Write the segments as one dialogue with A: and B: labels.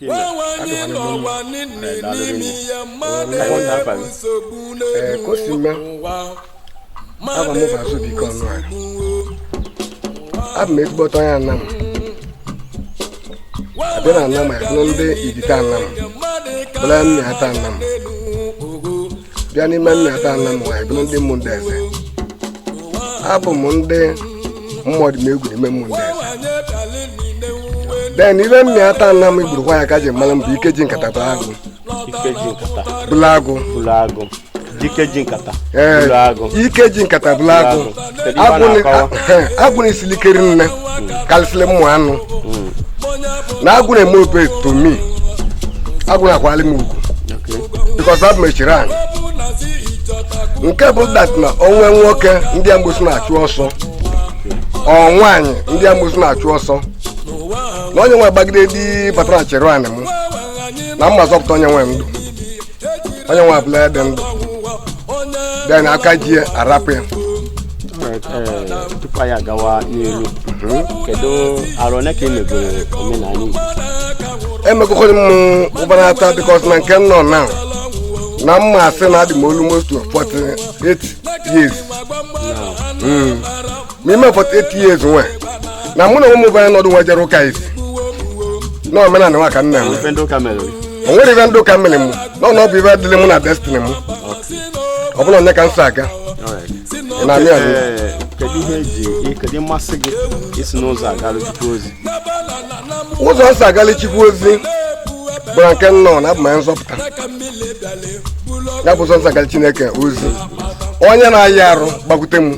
A: wewanye n'ụwa niile n'ime ihe mmadụ enwe nsogbu n'elu ụwa mmadụ enwe nsogbu abụ m ezigbote onye Anam abịa na Anam ya bụ ndị Ivite Anam bụla Mmiata Anam bịa n'ime Mmiata Anam anyị bụrụ ndị Ụmụndeze abụ m ndị Ụmụodimegwu n'ime Ụmụndeze then ive Mmiata Anam igburukwa ya ka ji mara m bụ ike ji nkata bụ agụ ike ji nkata bụla agụ bụrụ agụ dike ji
B: nkata ee bụrụ agụ ike ji nkata bụla
A: agụ agwụ na-esili ike ri nne kalịsịlị mmụ anụ na agwụ na-eme obey to me agwụ na-akwali m ugwu because abụ m echiri anyị nke bụ that na o nwe nwoke ndị amgbosi na-achụ ọsọ ọ nwaanyị ndị amgbosi na-achụ ọsọ na onye nwe gbagide di batara chere anyị m na m ma-azọpụta onye nwe ndụ onye nwe abụla ya dị ndụ then aka ji arapụ ya tupu
B: anyị agawa n'iru kedu arọ ole ka i megoro omenala
A: Igbo emekọkọrị m ụbara ata because na nke nọ na na m ma-asị na adị m almost 48 years ma ime 48 years nwa na mụ na ụmụ bụ anyị nọdụ nwa jere ụka isi na omenala nwa ka nna m Ife ndị ụka mere. o nwere ive ndị ụka mere m na ọ bụ ive dịrị mụ na destiny m ọ bụla nya ka m so aga Alright. ị na-amị amị Ee, kedu ihe
B: eji kedu mmasị gị i si n'ụzọ agala Chukwu
A: ozi ụzọ m so agala Chukwu ozi bụ na nke nọ na abụ m onye nzọpụta ya bụ ụzọ m so agala Chineke ozi onye na-aya arụ gbakwute m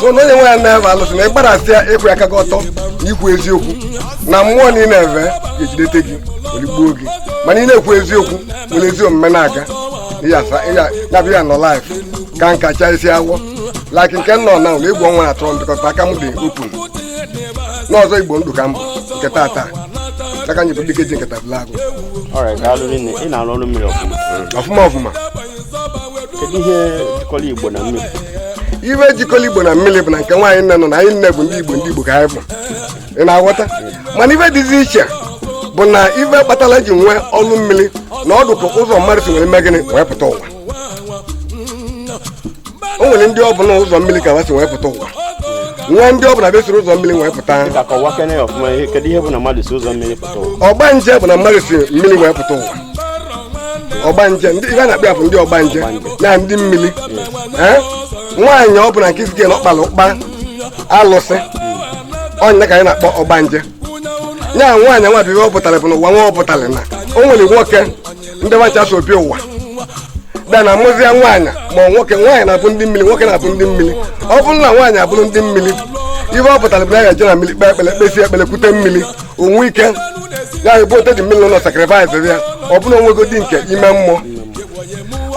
A: so na onye nwe ya na-eve alụsị na ịkparasị ya ịkwụ aka gị ọtọ na ikwu eziokwu na mmụọ na ị na-eve ga-ejidete gị o ligbuo gị mana ị na-ekwu eziokwu nwere ezi omume na-aga na-abịa ya nọ life ka nka chaa isi agwọ like nke nọ na ụlọ egwu ọnwa atụrụ ndịkọta aka m dị open n'ịzọ Igbo ndụ ka mbụ nke tata aka anyị bụ dike ji nkata bụla agụ ị na-arụ
B: ọrụ mmiri ọfụma ọfụma ọfụma kedu ihe jikọrọ igbo na mmiri ive
A: jikọrọ igbo na mmiri bụ na nke nwa anyị nine nọ na anyị nine bụ ndị igbo ndị igbo ka anyị bụ ị na-aghọta mana ife dịzi iche bụ na ife kpatara eji nwee ọrụ mmiri na ọ dụ ka ụzọ mmadụ si nwee mee gịnị wee pụta ụwa o nwere ndị ọ bụ na ụzọ mmiri ka ha si wee pụta ụwa nwee ndị ọ bụ na ha esiro ụzọ mmiri wee pụta dịka kọwakene ya ọfụma ihe kedu ihe bụ na mmadụ si ụzọ mmiri pụta ụwa ọgbanje bụ na mmadụ si mmiri wee pụta ụwa ọgbanje ndị ive a na-akpọ ya bụ ndị ọgbanje na ndị mmiri Eh? nwaanyị ọ bụla nke sike na ọ kpara ụkpa alụsị ọ nya ka anyị na-akpọ ọgbanje nya nwaanyị nwa bụ ive ọ pụtara bụ na ụwa nwa ọ pụtara na o nwere nwoke ndị wa ncha so obi ụwa bịa na-amụzịa nwaanyị ma nwoke nwaanyị na-abụ ndị mmiri nwoke na-abụ ndị mmiri ọ bụrụ na nwaanyị abụrụ ndị mmiri ihe ọ pụtara bụ na ya je na mmiri kpee ekpere kpesịa ekpere kute mmiri o nwee ike ya ebutezi mmiri ụlọ sacrifice ya ọ bụrụ o nwego di nke ime mmụọ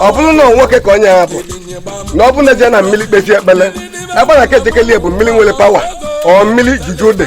A: ọ bụrụ na nwoke ka onye ya bụ na ọ bụrụ na e je na mmiri kpesịa ekpere ebe a na-aka ejekarị bụ mmiri nwere power or mmiri juju dị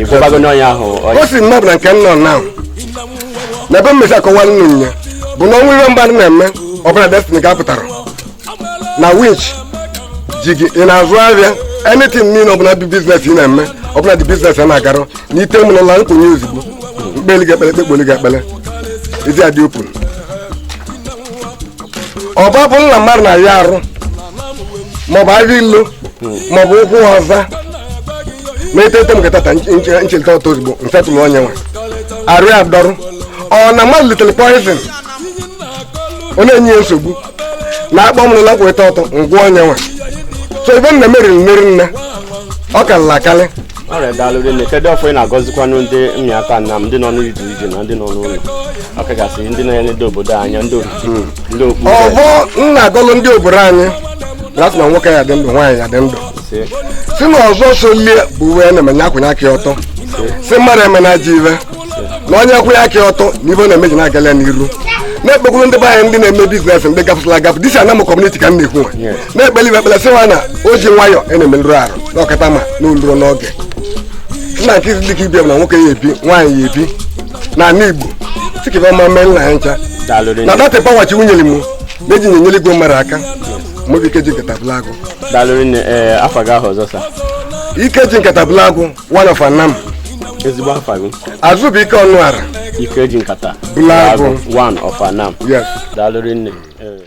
B: ị gwabago onye ahụ o si nnọọ na nke
A: m nọ na na ebe m si akọwalụ ụnụ nya bụ na o nwe ihe mmadụ na-eme ọ bụ na destiny gị apụtarọ na winch ji gị ị na-azụ ahịa anything niile ọbụla bụ business ị na-eme ọ bụ na the business ana-agarọ na ite m n'ụlọ na m kwenye ozugbo m kpeli gị ekpele kpekpoli gị ekpele ezi adị open maọbụ na mmadụ na-aya arụ maọbụ agha ilo maọbụ ụkwụ ọza ma etete m ga tata nchelite ọtọ ozugbo m fetụlụ onye nwe arụ ya dọrụ ọ na mmadụ litere poison ọ na-enye ya nsogbu na akpọ m n'ụlọ kweta ọtọ ngwa onye nwe so ive m na-eme rinne rinne ọ karịrị akarị ọrịa daalụ
B: rinne kedu ọfọ ị na-agọzikwanụ ndị mmiata anam ndị nọ n'ije ije na ndị nọ n'ụlọ ọkachasị ndị na-enedo obodo anya ndị okpukpe ndị okpukpe ọfọ m na-agọlụ
A: ndị obodo anyị na-asị na nwoke ya dị ndụ nwaanyị ya dị ndụ sị sị na ọzọ so lie bụ ive na-eme onye akwụnye aka ya ọtọ sị mmadụ emena ajọ ive na onye kwụnye aka ọtọ na ive ọ na-eme ji na-agala ya n'iru na-ekpekwuru ndị be anyị ndị na-eme business ndị gafụsịla agafụ this anam community ka m na-ekwu nwa na-ekpeli ibe ekpele sị ha na o ji nwayọ ana-emerụrọ arụ na ọkata ma na oluruo n'oge nna nke dị ka ibia na nwoke ya ebi nwaanyị ya ebi na ala igbo sị ka ive ọma meenụ anyị ncha na that power chukwu nyere m na-eji nyenyere igwe mmadụ aka m bụ ike ji nkata bụla agụ daalụ rinne ee
B: afa gị ahụ ọzọ sir ike ji
A: nkata bụla agụ one of anam ezigbo
B: afa gị azụbụike ọnụọra ike ji
A: nkata Bụla
B: agụ.
A: one of
B: anam yes
A: daalụ rinne